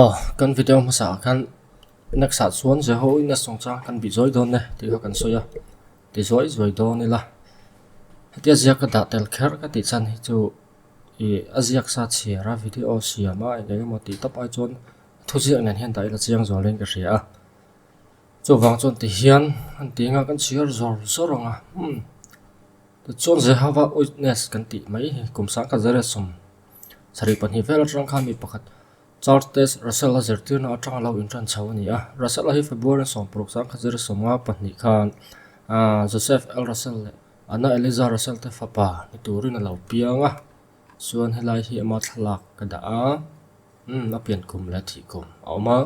Aw kan video hmasa ah khan next ah chuan Jehovaih na sawng chang kan bih zawi dawn e tih kha kan sawi a ti zawi zawi dawn ila hetia ziak a dah tel kher ka tih chan hi chu ih a ziak sa chhiar a video siam a eng eng emaw tih tap ai chuan thuziak nen hian dah ila chiang zual dahin ka hria a. Chuvang chuan tihian an tih nghal kan chhiar zawr zawr ang a, umm. Tichuan Jehova Witness kan tih mai hi kum sangka zara sum sarih pahnih vel aṭang khan mi pakhat Charles Taze Russell a zirtirna aṭanga lo inṭan chho a ni a. Russell hi February sawmpuruk sangka zara sum nga pahnih khan aah Joseph L. Russell leh Anna Eliza Russell te fapa ni turin a lo piang a. Chuan helai hi ama thlalak ka dah a, umm a pian kum leh a thih kum a awm a.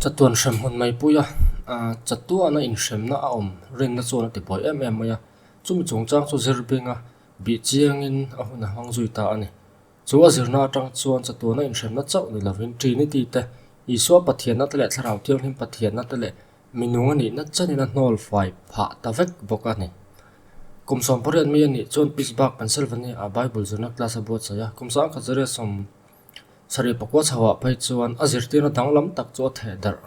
Chatuan hrem hun mai pui a, aah chatuana inhremna a awm rinna chuan a ti buai em em mai a, chumi chung chang chu zir benga bih chiangin a hun a hmang zui ta a ni. Chu a zirna atang chuan chatuana inhremna chauh ni lovin Trinity te, Isua Pathiannate leh Thlarau Thianghlim Pathiannate leh Minung a nih nat chanin a hnawl fai phah ta vek bawk a ni. Kum sawm pariat mai a nih chuan Pittsburgh, Pennsylvania ah Bible zirna class a buatsaih a. Kum sangkhat zariat sawm sarih pakua chho ah phei chuan a zirtirna dang lam tak chu a thehdarh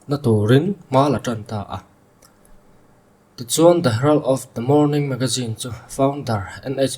na turin hma la tan ta a. Tichuan The Herald of the Morning Magazine chu founder NH.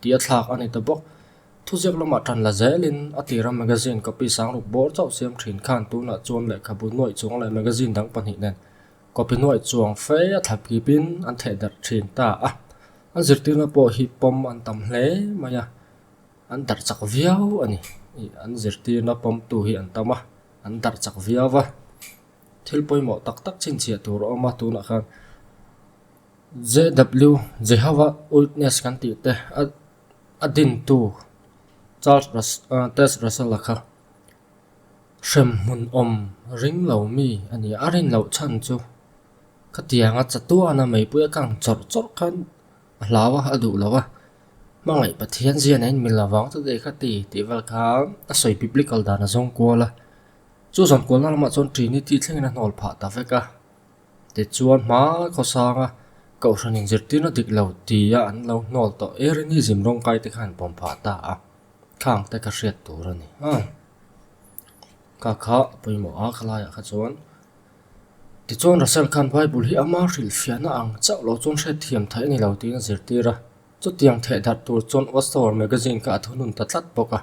tih a thlak a ni ta bawk. Thuziak lama tan la zelin a tira magazine copy sang ruk bawr chauh siam thin khan tunah chuan lehkhabu nuaih chuang leh magazine dang pahnih nen copy nuaih chuang fe a thlap kipin an thehdarh thin ta a. An zirtirna pawh hi pawm an tam hle mai a, an darh chak viau a ni. An zirtirna pawmtu hi an tam a, an darh chak viau a. Thil pawimawh tak tak chhinchhiah tur a awm a tunah khan. JW, Jehova Witness kan tih te a dintu Charles Taze Russell-a kha hrem hmunawm ring lo mi a ni a, a rinloh chhan chu khatianga chatuana meipui akang chawrh chawrh khan a hlau a, a duh lo a, hmangaih Pathian ziana in min lo vang chu daih kha ti tih vel kha a sawi Biblical dan a zawng kual a, chu zawn kualna lamah chuan Trinity thlengin a hnawlphah ta vek a, Tichuan hma khawsanga kohhranin zirtir na dik lo tia an lo hnawl tawh e rin hi zim rawng kaite khan pawm phah ta a, khang te ka hriat tur a ni hang. Ka kha pawimawh a kha laiah kha chuan tichuan Russell khan Bible hi ama hrilh fiahna ang chauh lo chuan hriat thiam theih a ni lo tiin a zirtir a, chutiang theih darh tur chuan Watchtower Magazine kha a thunun ta tlat bawk a.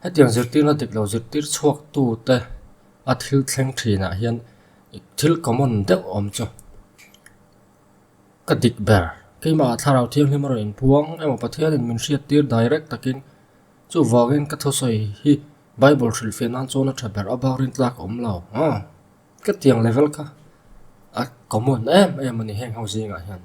Hetiang zirtirna diklo zirtir chhuaktute a thil thleng thinah hian thil common deuh awm chu ka dik ber. Keimahah thlarau thianghlim a rawn in puang emaw Pathianin min hriattir direct takin chuvangin ka thusawi hi Bible hrilhfiah nan chuan a tha ber a bakrin tlak awmlo. Khatiang level kha a common em em a ni heng ho zingah hian.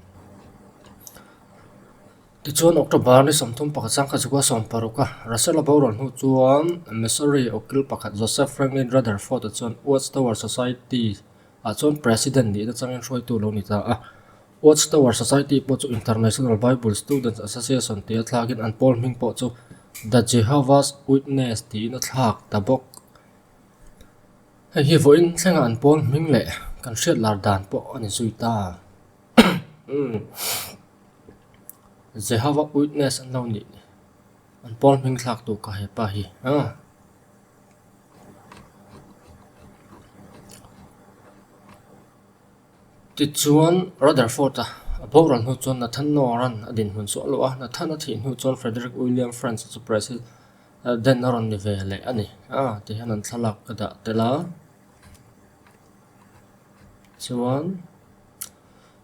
Tichuan October ni sawmthum pakhat sang kha chu ka sawm paruk a Russia-la boruan hnu chuan Missouri Okil pakhat Joseph Franklin Rutherford-a chuan Watch Tower Society ah chuan President nihna changin hruaitu lo ni ta a. Watch Tower Society pawh chu International Bible Students Association tih a thlakin an pawl hming pawh chu The Jehovah's Witness tiin a thlak ta bawk. Hei hi vawiin thlengah an pawn hming leh kan hriat lar dan pawh a ni zui ta. Jehova Witness an lo nih an pawn hming thlaktu ka hei pa hi. Tichuan Rutherford-a a borual hnu chuan Nathanael-a'n a dinhmun suah loh a. Nathan-a thih hnu chuan Frederick William Francis-a chu Brazil. Den a rawn ni ve leh a ni a tih hian an thlalak a dah tel a chuan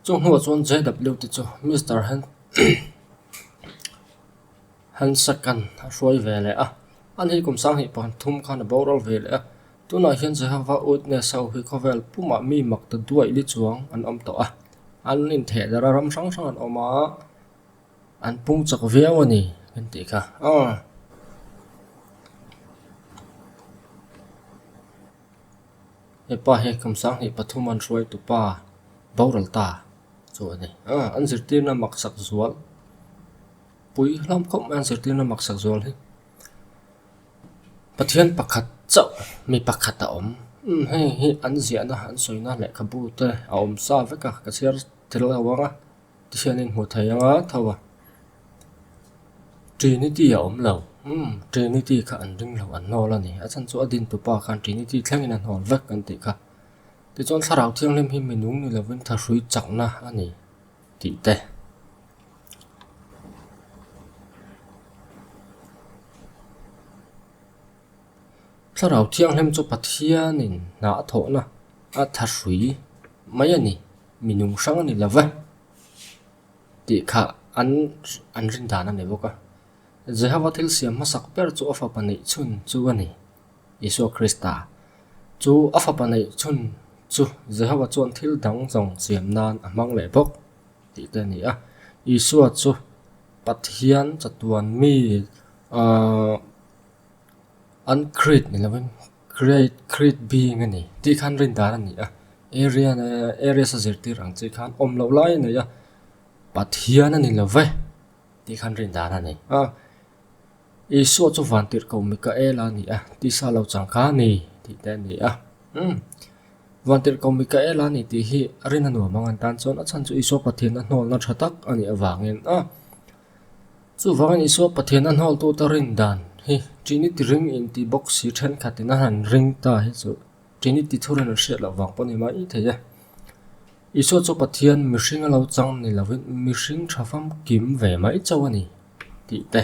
chung hnua ah chuan jw te chu Mister han Hansakan a hruai ve leh a a ni kum sang hnih pathum thum khan a boral ve leh a tunah hian Jehova Witness ho hi khawvel puma mi mak ta duai li chuang an awm tawh a an intheh darh a ram hrang hrang an awm a. An pung chak viau a ni kan tih kha. Aww. Hepa hi Kamsanghnih pathum an hruai tu pa Boral ta chu a ni. Aww an zirtirna maksak zual pui hlawm khawp mai an zirtirna maksak zual hi. Pathian pakhat chauh mi pakhat a awm. Umm hei hi an ziahna an sawina lehkhabu te a awm sa vek a ka chhiar tel ang a. Ti hian in hmuh theih anga tho a, Trinity a awm lo, umm Trinity kha an ring lo an nawl a ni, a chhan chu a din tupa khan Trinity thleng in a nawl vek kan tih kha. Tichuan thlarau thianghlim hi minung ni lovin tha hrui chak na a ni tih te. Thlarau thianghlim chu Pathianin hnah thawhna a tha hrui mai a ni. minung hrang a ni lo va tih kha an an rin dan a ni bawk a. Jehova thil siam hmasak ber chu a fapa neih chhun chu a ni, Isua Krista. Chu a fapa neih chhun chu Jehova chuan thil dang zawng siam nan a hmang leh bawk tih te a ni a. Isua chu Pathian chatuanmi aaa an Krit ni lovin Create, create being a ni tih khan rin dan a ni a, area na areas a zirtir ang chi khan awm loh lai a nei a, Pathian a ni lo ve tih khan rin dan a ni a, Isua chu vantir ko Mikaela a ni a tih sa lo chang kha a ni tih te a ni a, hmm vantir ko Mikaela a ni tih hi a rin a nuam ang a ni tan chuan a chhan chu Isua Pathian a hnawlna tha tak a nih avangin a. Chuvangin Isua Pathiana hnawltuta rindan hi Trinity ring inti bawk si thenkhatin a han ring ta hi chu Trinity thur a rawn hriat loh vang pawh a ni maithei a. Isua chu Pathian mihring a lo chang ni lovin mihring tha famkim ve mai chauh a ni tih te.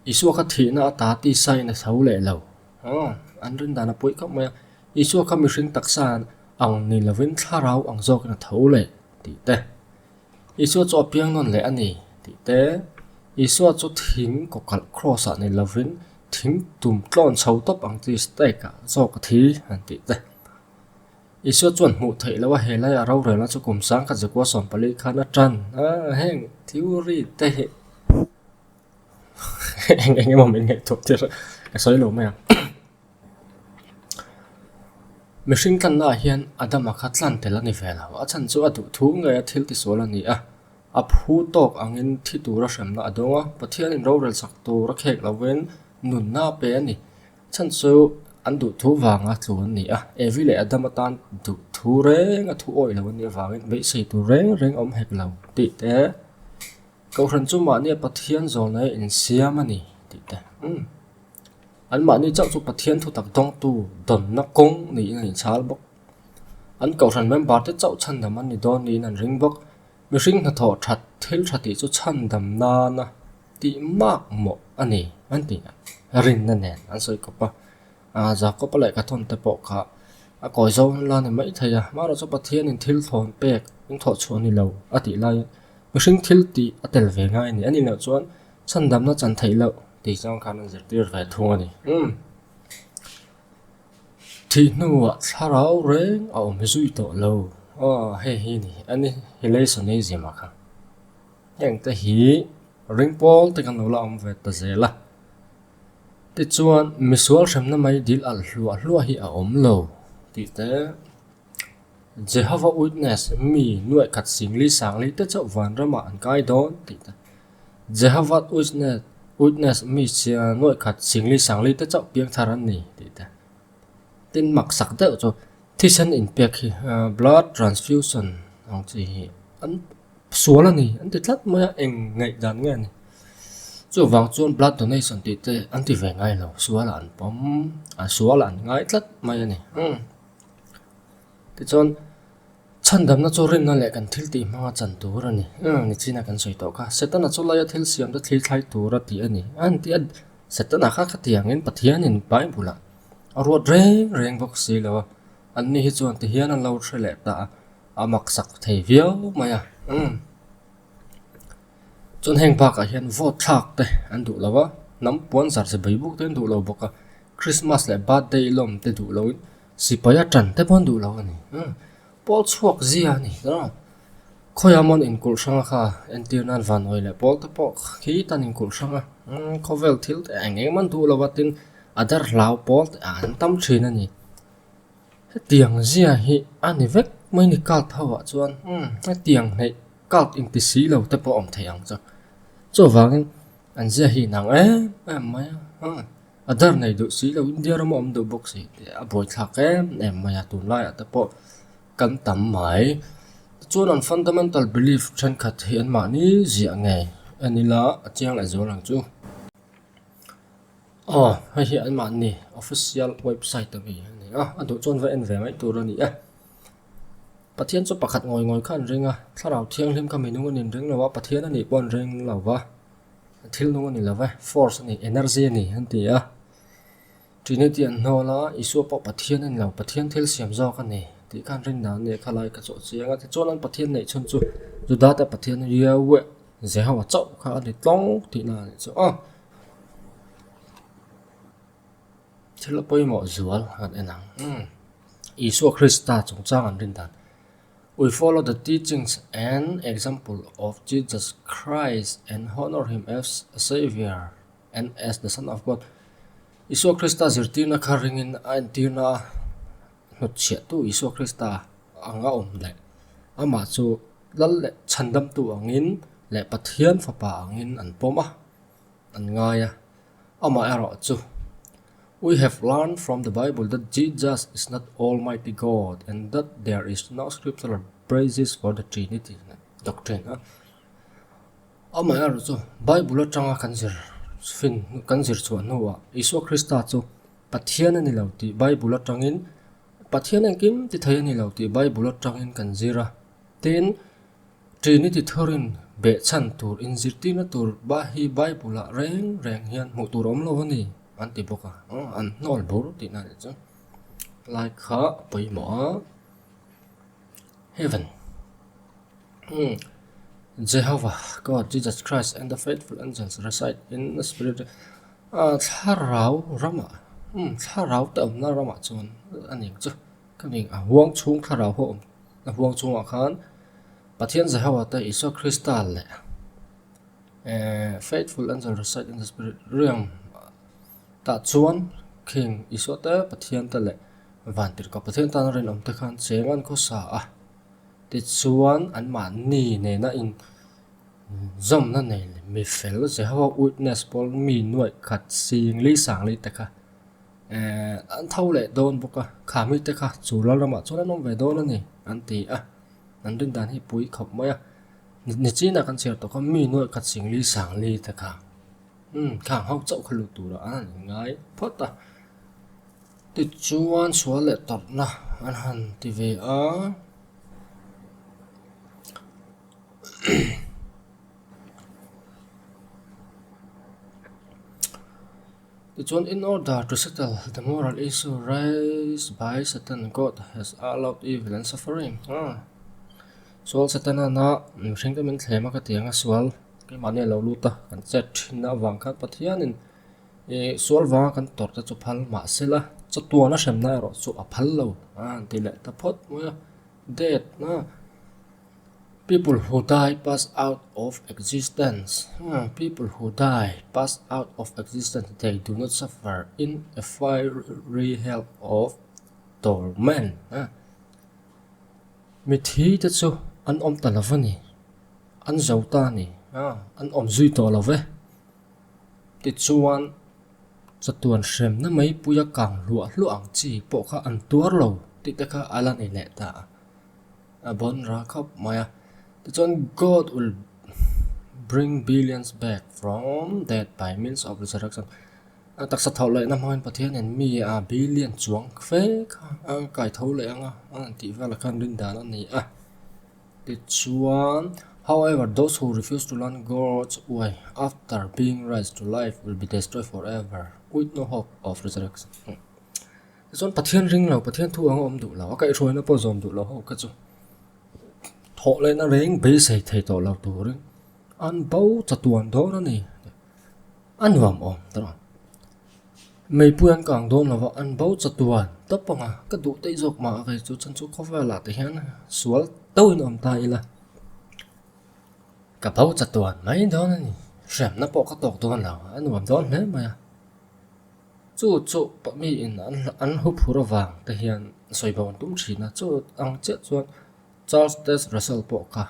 Isua kha thihna a ta tih sign a tho leh lo. Aw, an rindan a puih khawp mai a. Isua kha mihring taksa ang ni lovin thlarau ang zawkin a tho leh. tih te, Isua chu a piang nawn leh a ni tih te, Isua chu thing kawkalh kraws ah nei lovin thing tum tlawn chho tawp ang chi stake ah zawk a thi an tih te. Isua chuan hmuh theih loh a helai a rorel a chu kum sangkhat Jakuaa sawmpali khan a tan a heng thilri te hi eng emaw min ngaihtuah tir ka sawi lo mai ang. Mihring tlannaah hian Adama kha tlan tel a ni ve lo. A chhan chu a duhthum nge a thil tisual a ni a. A phu tawk angin thi tura hremna a dawng a. Pathianin rorelsak tur a khek lovin nunna a pe a ni. A chhan chu an duhthu vanga tlun a ni a. Evi leh Adam atan duhthu reng a thu awih lo a nih avangin beisei tur reng reng a awm hek lo tih te. Cohran chu mahnia Pathian zawlna hi a insiam a ni tih te. Anmahni chauh chu Pathian thutak dawngtu dawnna kawng niin an inchhal bawk. An Kohhran member-te chauh chhandam an ni dawn niin an ring bawk. Mihring hnathawh that thil tha tih chu chhandam nana tih mak mawh a ni, an tih a rinna nen an sawi kawp a. Aa, Jakopa leh ka tawnte pawh kha a kawi zo an la ni maithei a, mahro chu Pathianin thil thlawn pek engthawh chhuah ni lo a tih laiin mihring thil tih a tel ve ngai a ni. A nih loh chuan Chhandamna chan theih loh tih chuan khan an zirtir ve thung a ni. Thih hnuah thlarau reng a awm hi zui tawh lo. Aw, hei hi ni a ni, hi Leisoneism a kha. Heng te hi ring pawl te kan lo la awm ve ta zel a. Tichuan misual hremna mai dil alh hluah hluah hi a awm lo tih te. Jehova Witness mi nuaihkhat singlei sanglei te chauh vanramah an kai dawn tih te. Jehova Witness mi nuaihkhat singlei sanglei te chauh piangthar an ni tih te. Tin maksak deuh chu thisen inpek hi blood transfusion ang chi hi an sual a ni an ti tlat mai a eng ngaih dan nge ni. Chuvang chuan blood donation tih te an ti ve ngailo sual a an pawm a sual a an ngai tlat mai a ni. Tichuan, chhandamna chu rinna leh kan thil tih hmanga chan tur a ni. Eng ang ni chin a kan sawi tawh kha. Setana chu Laia thil siamna thlir thlai tur a tih a ni. A ntia Setana kha khatiangin Pathianin Bible-ah a ruat reng reng bawk si lo a. Anni hi chuan tihian an lo hre leh ta a, a maksak thei viau mai a. Chuan heng bakah hian vote thlak te an duh lo a, hnam puan zar ze beibuk te an duh lo bawk a, Christmas leh birthday lawm te duh loin sipai a tan te pawh an duh lo a ni. Pawl chhuak zia a ni a, khawiah mawn inkulh hrang a kha, entir nan vanawih leh pawl te pawh khi tan inkulh hrang a, khawvel thil te eng eng ma'n duh lo a tin a darhlau pawl te ah an tam thin a ni. Hetiang zia hi a ni vek mai ni cult ho ah chuan umm hetiang hneih cult in ti si lo te pawh awm thei ang chuan chuvangin an zia hi inang em em mai a umm a dar nei duh si lo India ram a awm duh bawk si tih a buai thlak em em mai a tun lai ah te pawh kan tam mai chuan an fundamental belief thenkhat hi an mahni zia nge a ni la a chiang leh zual ang chu. Aw, hei hi an mahni official website a ni a, a duh chuan va en ve ngaih tur a ni a. Pathian chu pakhat ngawi ngawi kha an ring a, thlarau thianghlim kha minung a ni reng lo a, Pathian a nih pawh an ring lo va, thil nung a ni lo va, force a ni, energy a ni an ti a. Trinity an hnawl a, Isua pawh Pathian a ni lo, Pathian thil siam zawk a ni tih kha an ring dan a ni a, kha lai ka chu a chiang a. Tichuan an Pathian neih chhun chu Juda te Pathian Yahweh Jehova chauh kha a ni tlawng tihna a ni chu a. Thil a pawimawh zual a rawn en ang. Isua Krista chungchang an rindan. We follow the teachings and example of Jesus Christ and honour him as a saviour and as the son of God. Isua Krista zirtirna kha ringin a entirna a hnutchhiahtu Isua Krista. ang a awm leh amah chu lal leh chhandamtu angin leh Pathian fapa angin an pawm a, an ngai a. Amah erawh chu, We have learned from the Bible that Jesus is not Almighty God and that there is no scriptural basis for the Trinity doctrine a. Amah erawh chu, Bible atanga kan zir fin, kan zirchhuah hnuah Isua Krista chu Pathian a ni lo tih Bible atangin Pathian engkim ti thei a ni lo tih Bible atangin kan zir a, tin, Trinity thurin behchhan tur, inzirtirna tur bah hi Bible-ah reng reng hian hmuh tur a awm lo a ni, an ti bawk a, an hnawl bur tihna a nih chu. Like kha a pawimawh a. Heaven. Jehovah God, Jesus Christ and the faithful angels reside in the spirit. A thlarau rama umm thlarau te awmna ramah chuan a ning chu ka ning a huang chhung thlarau ho awm a huang chhungah khan Pathian Jehova te Isua Krista leh ehh faithful angel recite in the spirit riang tah chuan kheng Isua te Pathian te leh vantirhka Pathian tana rinawm te khan cheng an khawsa a tichuan anmahni nena in-- Zawmna nei leh mi fel Jehova Witness pawl mi nuaih khat sing li sang li te kha an tho leh dawn bawk a, kha mi te kha chu Lalramah chuan an awm ve dawn a ni an ti a, an rindan hi pui khawp mai a, nichinah kan chhiar tawh kha mi nuaih khat sing li sang li te kha khang ho chauh kha lut turah an han inngai phawt a, tichuan sual leh tawrhna an han ti ve a. Tichuan, in order to settle the moral issue raised by Satan, God has allowed evil and suffering. Ah. Sual Satana na mihring ka min thlem a ka ti anga sual keimahni lo lut a kan chet thin a vang khan Pathianin e sual vanga kan tawrh te chu phal mah se la chatuana hremna erawh chu a phal lo a ti leh ta phawt mai a death na. People who die pass out of existence, People who die pass out of existence, they do not suffer in a fiery hell of torment. Mithi te chu an awm ta lo va ni, an zo ta a ni, an awm zui tawh lo e. Tichuan, chatuan hremna meipuia kang hluah hluah ang chi pawh kha an tuar lo tih te kha a la ni leh ta a. A bawn ra khawp mai a. Tichuan God will bring billions back from dead by means of resurrection. A taksa thawh loina hmangin Pathianin mi a billion chuang fe kha a ang kai tho leh ang a, a ang tih vel a khan ring dan a ni a. Tichuan, However, those who refuse to learn God's way after being raised to life will be destroyed forever with no hope of resurrection. Chuan Pathian ring lo, Pathian thu anga awm duh lo, a kaihhruaina pawh zawm duh lo ho ka chu. Thawh lehna reng beisei thei tawh lo turin an bo chatuan dawn a ni. A nuam awm tawh ang. Meipui an kang dawn lo va, an bo chatuan tawp ang a, ka duh daih zawk mah a kei chu chan chu khawvelah te hian sual deuhin awm ta ila ka bo chatuan mai dawn a ni. Hriamna pawh ka tawk dawn lo, a nuam dawn hle mai a. Chu chu pahmi in an hu phur avang te hian sawibawn a tum thin a, chu ang chiah chuan Charles Taze Russell pawh kha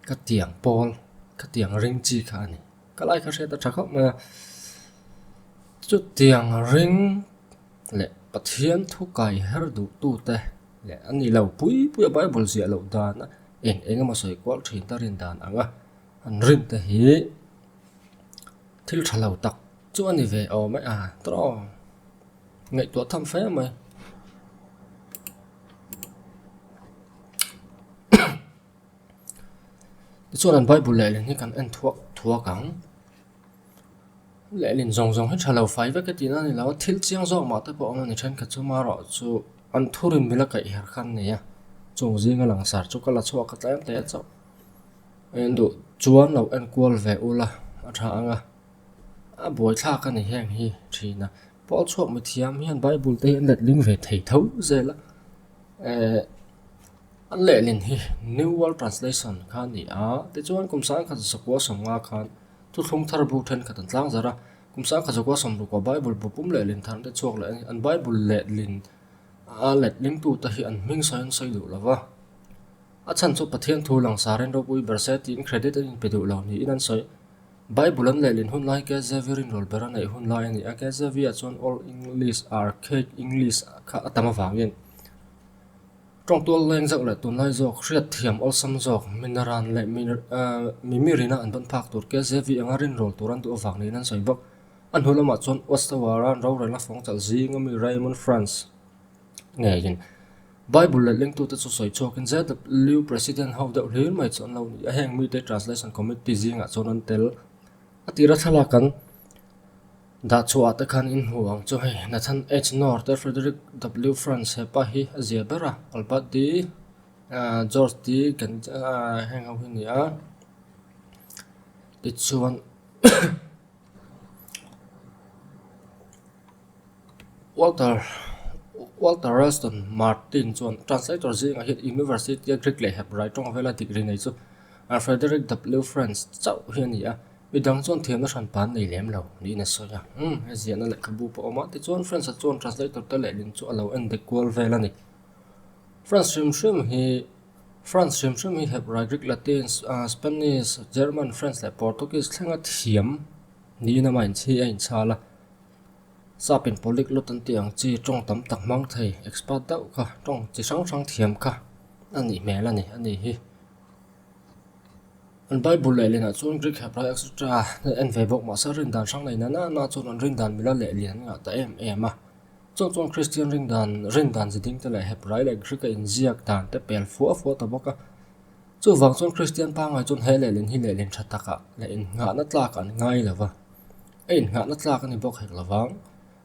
ka tiang pawl, ka tiang ring chi kha a ni. Ka lai kha hriat a tha khawp mai a. Chu tiang ring leh Pathian thu kai her duhtu te leh an nih loh pui pui a Bible ziah loh dan a eng eng emaw sawi kual thin ta rindan ang a, an ring te hi, Thil tha lo tak chu a ni ve aw mai a trawng ngaihtuah tham fai a mai. Tichuan an Bible lehlin hi kan en thuak thuak ang. Lehlin zawng zawng hi tha lo fai vek e tihna a ni lo a, thil chiang zawk mah te pawh awm a ni. Thenkhat chu mah erawh chu an thu rinmil a kaih her kha an nei a, chung zinga langsar chu ka la chhuak ka tlem teh chauh. En duh chuan lo enkual ve ula, a tha anga. A buaithlak a ni heng hi thihna. Pawl chhuak mithiam hian Bible te hi an letling ve thei tho zel a. Eh, an lehlin hi New World Translation kha a ni a. Tichuan kum sangkhat Zasukua sawmnga khan Thutthlung thar bu thenkhat an tlang zarh a. Kum sangkhat Zasukua sawm lukah Bible bu pum lehlin thar an ti chhuak leh a ni. An Bible lehlin a letlingtute hi an hming sawi an sawi duh lo va. A chhan chu Pathian thu langsar in ropui ber se tiin credit an inpe duh lo niin an sawi. Bible an lehlin hun lai KJV rin rawl ber a neih hun lai a ni a, KJV ah chuan Old English, Archaic English, kha a tam avangin tawng tual leng zauh leh tunlai zawk, hriatthiam awlsam zawk, mina ran leh mi mirina an vawn phak tur KJV anga rin rawl tur an duh avang niin an sawi bawk. A hnu lamah chuan Watchtower a an rorelna fawng chalh zing ami Raymond Franz, ngeiin bible lalhlengtute chu sawi chhuakin zlu president ho deuh hlel mai chu an lo ni a heng mite translation committee zingah chuan an tel a tira thlalak kan dah chhuah te khan in hmuh ang chu hei nathan H nawr te frederick W Franz hepa hi a zia ber a albert D aah george D aah heng ho hi a ni a tichuan. Walter Walter Ralston Martin chuan translator zingah hian University-a Greek leh Hebrai tawng vela degree nei chu Frederick W. Franz chauh hi a ni a, mi dang chuan thiamna hran pan nei lem lo niin a sawi a. Umm, he ziahna lehkhabu pawh awm a. Tichuan Franz-a chuan translator te lehlin chu a lo en dek kual vel a ni. Franz hrim hrim hi France hrim hrim hi hep rai rik Latin, Spanish, German, French leh Portuguese thlenga thiam niin ama inchhi a inchhal a. Sapin polyglot an tih ang chi tawng tam tak hmang thei, expert deuh kha, tawng chi hrang hrang thiam kha a nih hmel a ni. A nih hi. An Bible leh lianah chuan Greek hep rai etc. en ve bawk mahse rindan hrang nei nana nana chuan an rindan mila leh lian an ngah ta em em a. Chauh chuan Kristian ringdan, rendan zi dingte leh Hebrai leh Grika inziak dante pel fuah fuah ta bawk a. Chuvang chuan Kristian pangngai chuan he lehlin hi lehlin tha taka leh innghahna tlaka an ngai lo va, a innghahna tlak a ni bawk hek lovang,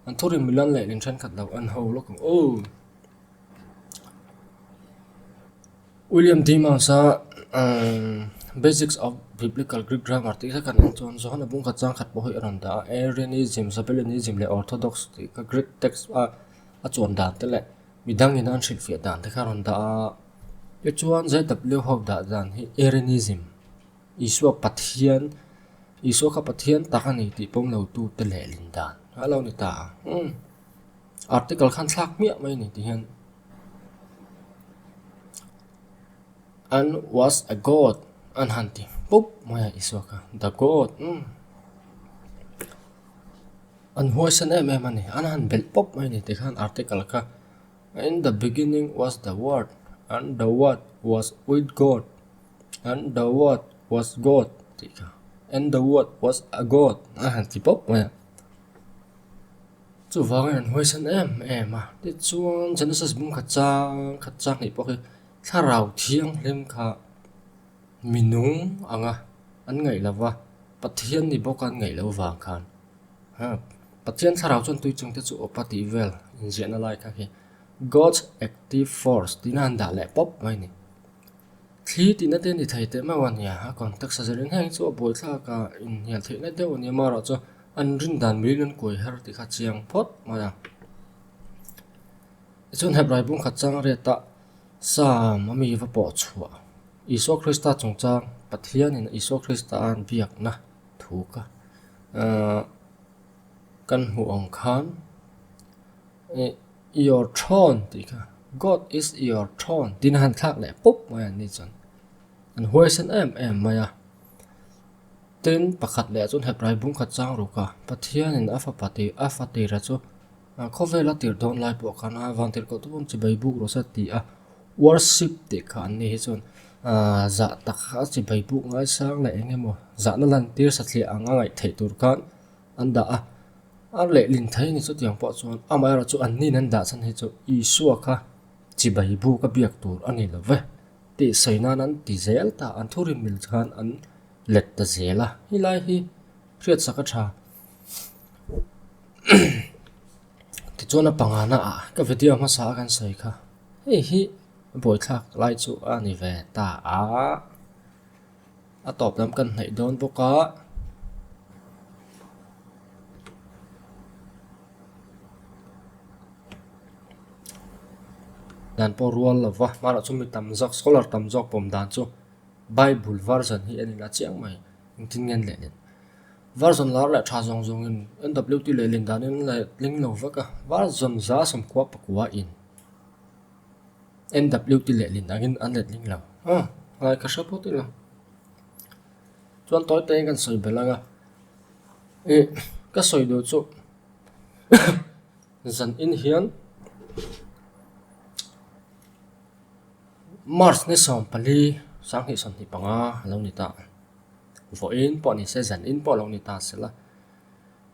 an thurinmil an lehlin thenkhat loh an ho lawk ang aw. William Timmons a Basics of Biblical Greek Grammar tih ka neih chuan Johana Bungkhat Chang Khat pawh hi a rawn dah a, Arianism, Sabellianism leh Orthodox tih kha Greek text a a chuan dan te leh midang in an hrilhfiah dan te kha a rawn dah a. Tichuan ZW ho dah dan hi Arianism, Isua Pathian, Isua kha Pathian tak a ni tih pawm lo tu te leh lindan a lo ni ta a. Article khan thlak miah mai a ni tih hian. An was a god an han ti pup mai a Isua kha the god um an huaisan em em a ni an han belh pup mai a ni tikhan article kha in the beginning was the word an the word was with god an the word was god tih kha and the word was a god a han ti pup mai a. Chuvangin an huaisan em em a, tichuan Genesis bum khat chang khat chang hnih pawh hi thlarau thianghlim kha minung anga an ngaih lo va, Pathian ni bawka an ngaih lo vang khan Pathian thlarau chuan tui chung te chu a awp a tih vel inziahna lai kha khi God's active force tina han dah leh pawp mai a ni. Thli tihna te ni thei teh mau a nia, a context a zir en heng chu a buaithlak a inhnial theihna deuh a nia, mahro chu, An rin dan mirin an kuai har ti kha chiang phawt mai a. Tichuan hep raipum khat chang riata Sam a mi va pawh chhuah Isua Krista chungchang Pathianin Isua Krista a an biakna thu kha kan hmuh ang khan Your throne tih kha God is your throne tina han thlak leh pup mai an ni chuan an huaisen em em mai a. Tin, pakhat leh chu hnathrai bum khat chang ruk a, Pathianin a fapa tih a fa tira chu khawvel a tirh dawn lai pawh khan a vang tirhkoh tum awm chi bai buk rawh sa ti a. Worship tih kha an nih hi chuan zah tak a chi bai buk ngaisang leh eng emaw zahna lantir satliah ang a ngaih theih tur khan an dah a. A lehlin thei ni chutiang pawh chuan amaherawhchu an hnihna an dahchhan hi chu Isua kha chi bai buk a biak tur a ni lo e. Tih sawi nan an ti zel ta, an thu rinmil khan an let ta zel a, helai hi hriatsak a tha. Tichuan a panga na ah ka video hmasa a kan sawi kha, hei hi buaithlak lai chu a ni ve ta a. A tawp lam kan hnaih dawn bawk a. Dan pawh rual lo va, hmalam chu mi tam zawk, scholar tam zawk pawm dan chu Bible version hi an inla chiang mai, engtin nge an leh leh. Version lar leh tha zawng zawng in NWT leh lindanin an la tling lo vek a, version za sawmkua pakua in. NW ti leh lin angin an let ding lo. Haa, ngai ka hre pawt ila. Chuan tawi tein kan sawi belh anga, ih ka sawi duh chu zan in hian March ni sawm pali sang hnih sawm hnih panga a lo ni ta. Vaw in pawh ni se zan in pawh a lo ni ta se la.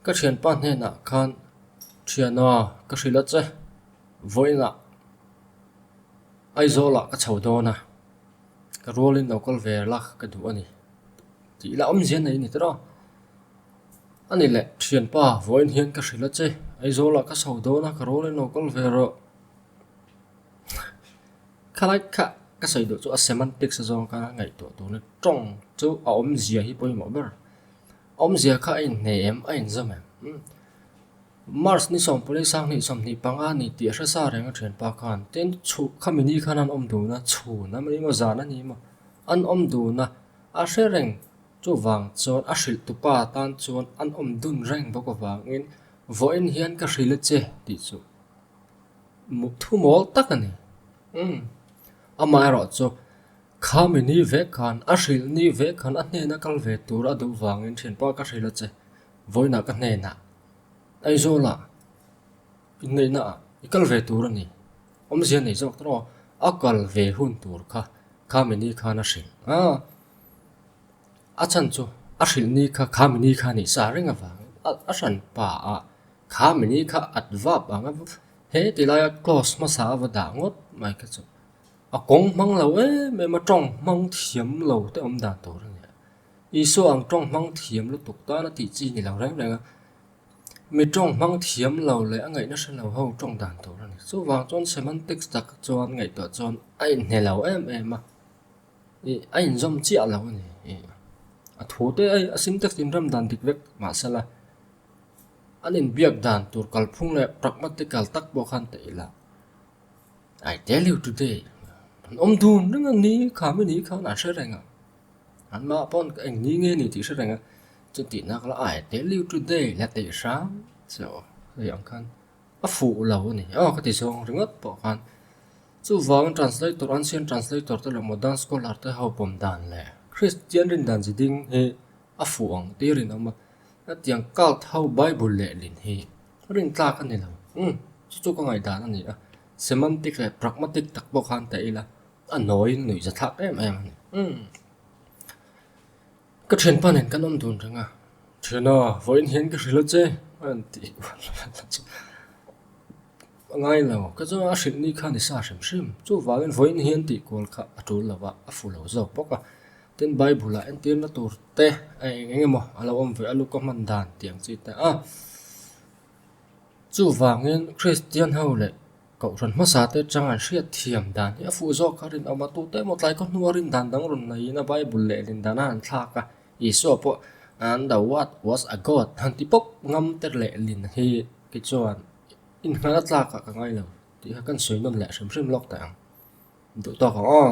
Ka thianpa hnenah khan, thiana ka hrilh a che. Vawiinah Aizawlah ka chho dawn a, ka rualin lo kal ve la ka duh a ni tih ila awmzia nei a ni tawh. A ni le, thianpa vawiin hian ka hrilh a che, Aizawlah ka chho dawn a, ka rualin lo kal ve rawh. Khalaih khah ka sawi duh chu a semantics-a zawng ka ngaihtuah tur ni tawng chu a awmzia hi pawimawh ber. Awmzia kha a inhne em? A inzawm em? Umm. March ni sawm pawlei sang hnih sawm hnih panga ni tih a hre sa reng a thianpa khan. Tin, chhu khami ni khan an awm dun a, chhun a nih maw zan a nih maw an awm dun a, a hre reng. Chuvang chuan a hrilh tupa tan chuan an awm dun reng bawk avangin vawiin hian ka hrilh a che tih chu muthu mawl tak a ni. Umm. Amaherawhchu. Khami ni vek khan a hrilh ni vek khan a hnen a kal ve tur a duh vangin thianpa ka hrilh a che. Vawina ka hnenah, Aizawla, inneihna ah i kal ve tur a ni. Awmzia nei zawk tawh a kal ve hun tur kha Khami ni khan a hrilh a. A chhan chu a hrilh ni kha Khami ni kha nih sa reng avangin a hran pa ah Khami ni kha at vap ang a, he tilaia close hmasa a va dah ngawt mai kha chu. A kawng hmang lo em em a tawng hmang thiam lo te awm dan tur a nia. Isua ang tawng hmang thiam lutuk tan a tih chi ni lo reng reng a. Mi tawng hmang thiam lo leh a ngaihna hre lo ho tawng dan tur a ni. Chuvang chuan semantic tak chuan ngaihtuah chuan a inhne lo em em a. I a inzawm chiah lo a ni. I a thu te a a syntax in ram dan dik vek mahse la an inbiak dan tur kalphung leh pragmatical tak pawh khan teh ila. I tell you today an awm dun reng ang ni kha mi ni khan an hre reng a an mah pawn ka eng ni nge ni tih hre reng a chu tih nak la I tell you today la teh hram se aw hei ang khan a fuh lo a ni aw ka ti zawng ringawt pawh khan chu vawng translator ancient translator te leh modern scholar te hopawm dan leh kristian rindan chi ding hi a fuh ang tir in awm a. Hetiang cult ho Bible leh lin hi rintlak a ni lo. Umm, chu chu ka ngaihdan a ni a. Semantic leh pragmatic tak pawh khan teh ila a nawi nuih za thlak em em a ni. Umm. Ka thian pan in kan awm dun reng a. Thiana, vawiin hian ka hrilh a che, a intih. A ngai lo, ka chuan a hrilh ni kha ni sa hrim hrim. Chuvangin vawiin hian tihkual kha a tul lova, a fu lo zawk bawk a. Tin, Bible-ah entirna tur te a eng eng emaw a lo awm ve alu ka hman dan tih ang chi ta a. Chuvangin Kristian ho leh kohhran hmasa te chang an hriat thiam dan hi a fuh zawk kha. Rinawm atu te emaw tlai ka hnua rin dan dang rawn nei ina Bible leh lin dan a han thlak a. Isua pawh, And the word was a God, han ti pawp ngam ter leh lin hi. Kei chuan in hnala tlak ah ka ngai lo tih kha kan sawi nawm leh hrim hrim lawk ta ang. Duh tawk ang aw.